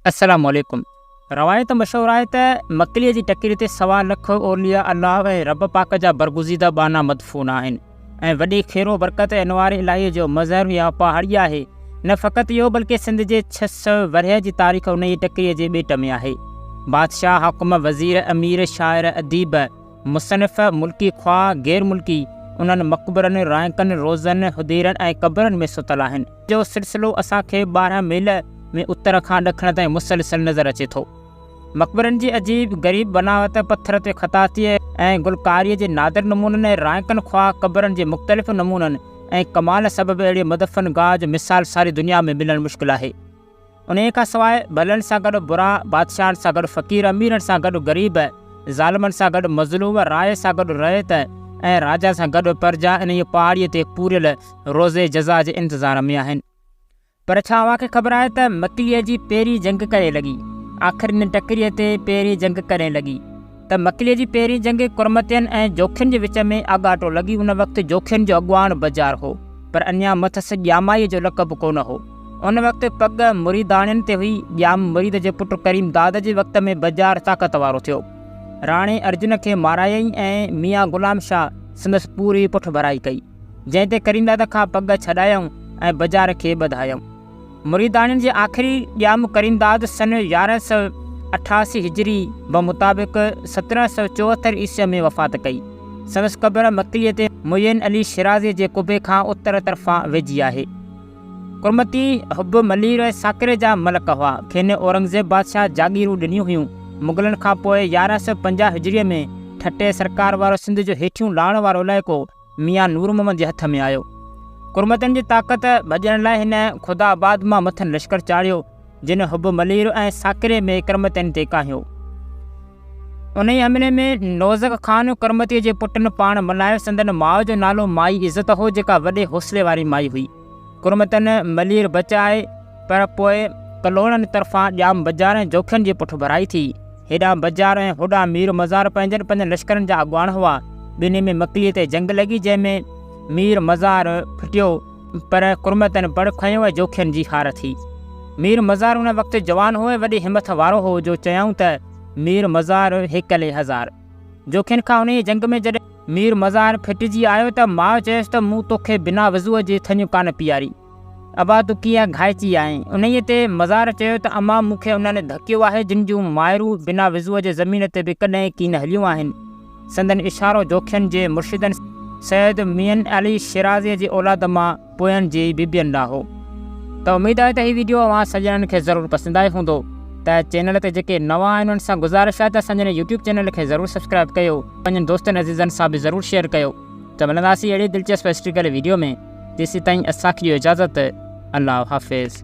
السلام عليڪم. روايت مشهور آهي ته مڪليء جي ٽڪري تي سوا لک اولياء الله ۽ رب پاڪ جا برگزيده ٻانها مدفون آهن ۽ وڏي خير و برڪت ۽ انوار الاهيء جو مظهر يا پهاڙي آهي. نه فقط اهو بلڪه سنڌ جي ڇهه سؤ ورهيه جي تاريخ انهيء ٽڪريء جي ٻيٽ ۾ آهي. بادشاهه، حاڪم، وزير، امير، شاعر، اديب، مصنف ملڪي خواه غير ملڪي انهن مقبرن، رائينڪن، روضن، حديرن ۽ قبرن ۾ ستل آهن، جو سلسلو اسان کي ٻارهن ميل ۾ اتر کان ڏکڻ تائين مسلسل نظر اچي ٿو. مقبرن جي عجيب غريب بناوت، پٿر تي خطاطيء ۽ گلڪاريء جي نادر نمونن ۽ رائينڪن خواه قبرن جي مختلف نمونن ۽ ڪمال سبب اهڙي مدفن گاهه جو مثال ساري دنيا ۾ ملڻ مشڪل آهي. انهيء کان سواء ڀلن سان گڏ برا، بادشاهن سان گڏ فقير، اميرن سان گڏ غريب، ظالمن سان گڏ مظلوم، راء سان گڏ رعيت ۽ راجا سان گڏ پرجا انهيء پهاڙيء تي پوريل روزي جزا جي انتظار ۾ آهن. پر ڇا اوهان کي خبر آهي ته مڪليء جي پهرين جنگ ڪڏهن لڳي؟ آخرين ٽڪريء تي پهرين جنگ ڪڏهن لڳي؟ ته مڪليء جي پهرين جنگ ڪرمتين ۽ جوکين جي وچ ۾ آڳاٽو لڳي ان وقت جوکين جو اڳواڻ بجار هو پر اڃا مٿس ڄامائيء جو لقب ڪونه هو ان وقت پڳ مريداڻين تي هئي ڄام مريد جي پٽ ڪريم داد جي وقت ۾ بجار طاقت وارو ٿيو راڻي ارجن کي مارايائين ۽ ميان غلام شاهه سندس پوري پٺڀرائي ڪئي جنهن تي ڪريم داد کان پڳ ڇڏايائون ۽ بجار کي ٻڌايائون. مريداڻين جي آخري ڄام ڪريمداد سن يارهن سؤ اٺاسي هجري بمطابق سترهن سؤ چوهتر عيسوي ۾ وفات ڪئي. سندس قبر مڪليء تي معين علي شيرازيء جي قبي کان اتر طرفان ويجهي آهي. ڪرمتي، حب، ملير ۽ ساڪري جا ملڪ هئا. کين اورنگزيب بادشاهه جاگيرون ڏنيون هيون. مغلن کان پوء يارهن سؤ پنجاهه هجري ۾ ٺٽي سرڪار وارو سنڌ جو هيٺيون لاڻ وارو علائقو ميان نور محمد جي هٿ ۾ آيو. ڪرمتن جي طاقت ڀڄڻ لاء هن خدا آباد مان مٿن لشڪر چاڙهيو، جن حب ملير ۽ ساڪري ۾ ڪرمتين تي ڪاهيو. انهيء حملي ۾ نوزڪ خان ڪرمتيء جي پٽن پاڻ ملهايو، سندن ماء جو نالو مائي عزت هو، جيڪا وڏي حوصلي واري مائي هئي. ڪرمتن ملير بچائي پر پوء ڪلهوڙن طرفان ڄام بجار ۽ جوکين جي پٺڀرائي ٿي. هيڏانهن بجار ۽ هوڏانهن مير مزار پنهنجن پنهنجن لشڪرن جا اڳواڻ هئا. ٻنهي ۾ مڪليء تي جنگ لڳي جنهن ۾ مير مزار ڦٽيو پر ڪرمتن بڙ کنيو ۽ جوکين جي هار ٿي. مير مزار ان وقت جوان هو ۽ وڏي همٿ وارو هو جو چيائون ته مير مزار هيڪلي هزار. جوکين کان انهيء جنگ ۾ جڏهن. مير مزار ڦٽجي آيو ته ماء چيس ته مون توکي بنا وضوء جي ٿڃ ڪانه پياري. ابا تون ڪيئن گهائچي آهين؟ انهيء تي مزار چيو ته امان مون کي انهن ڌڪيو آهي جن جون مائرون بنا وضوء جي زمين تي به ڪڏهن ڪين هليون آهن. سندن اشارو جوکين جي مرشدن سيد مين علي شيرازيء جي اولاد مان پوين جي بيبين ڏانهن هو ته اميد آهي ته هي ويڊيو اوهان سڄڻن کي ضرور پسند آيو هوندو ته چينل تي جيڪي نوان آهن انهن سان گذارش آهي ته اسانجن يوٽيوب چينل کي ضرور سبسڪرائب ڪيو پنهنجن دوستن عزيزن سان به ضرور شيئر ڪيو ته ملنداسين اهڙي دلچسپ هسٽريڪل ويڊيو ۾ تيسيتائين اسانکي ڏيو اجازت الله حافظ.